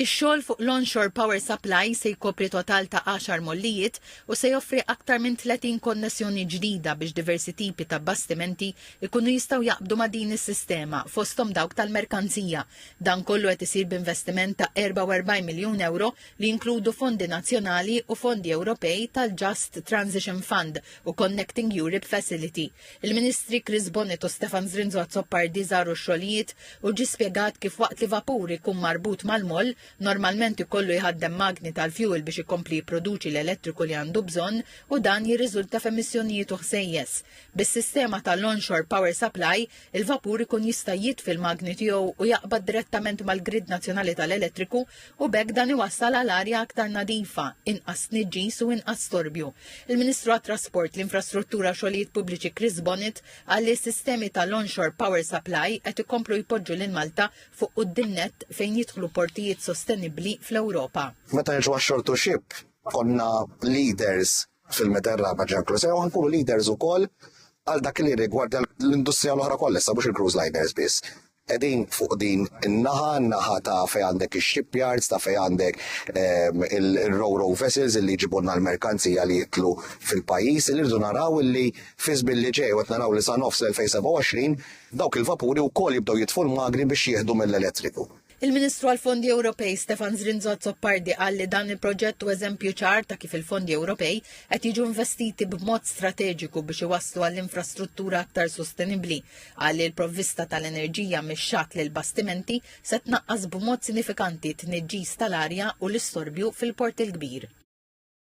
Ix-xogħol fuq l-onshore power supply se jkopri total ta' għaxar mollijiet u se joffri aktar minn 30 konnessjoni ġdida biex diversi tipi ta' bastimenti jkunu jistgħu jaqbdu ma' din is-sistema, fosthom dawk tal-merkanzija. Dan kollu qed isir b'investiment ta' 44 miljun ewro li jinkludu fondi nazzjonali u fondi Ewropej tal-Just Transition Fund u Connecting Europe Facility. Il-Ministri Chris Bonnet u Stefan Zrinzo Azzopardi żaru x-xogħlijiet u ġie spjegat kif waqt li vapur ikun marbut mal-moll, normalment ikollu jħaddem magni tal-fjuwil biex ikompli jipproduċi l-elettriku li għandu bżonn u dan jirriżulta f'emissjonijiet u ħsejjes. Bis-sistema ta' l-onshore power supply, il-vapur ikun jista' jitfi l-magni tiegħu u jaqbad direttament mal-grid nazzjonali tal-elettriku u b'hekk dan iwassal għal arja aktar nadifa, inqas tniġġis u inqas storbju. Il-Ministru għat-Trasport, l-Infrastruttura u Xogħlijiet Pubbliċi Chris Bonnet qal li s-sistemi tal-onshore power supply qed ikomplu jpoġġu lil Malta fuq quddiem nett fejn jidħlu portijiet sostenibbli fl-Ewropa. Meta niġu għax-shore to ship, konna leaders fil-Meta r-Raba' ġie inkluż, u nkunu leaders ukoll għal dak li jirrigwardja l-industrija l-oħra kollha, issa mhux il-cruise liners biss. Qegħdin fuq din in-naħa, in-naħa ta' fejn għandek ix-shipyards, ta' fejn għandek ehm, il-ro-ro vessels illi jġibulna l-merkanzija li jitlu fil-pajjiż, li rridu naraw illi fiż billi ġej qed naraw li sa nofs 2027 dawk il-vapuri wkoll jibdew jitfu l-magni biex jieħdu mill-elettriku. Il-Ministru għall-Fondi Ewropej Stefan Zrinzo Zoppardi qal li dan il-proġett u eżempju ċar ta' kif il-fondi Ewropej qed jiġu investiti b'mod strateġiku biex iwasslu għall-infrastruttura aktar sostenibbli Qal li l-provvista tal-enerġija mix-xatt lill-bastimenti se tnaqqas b'mod sinifikanti t-tniġġis tal-arja u l-istorbju fil-Port il-Kbir.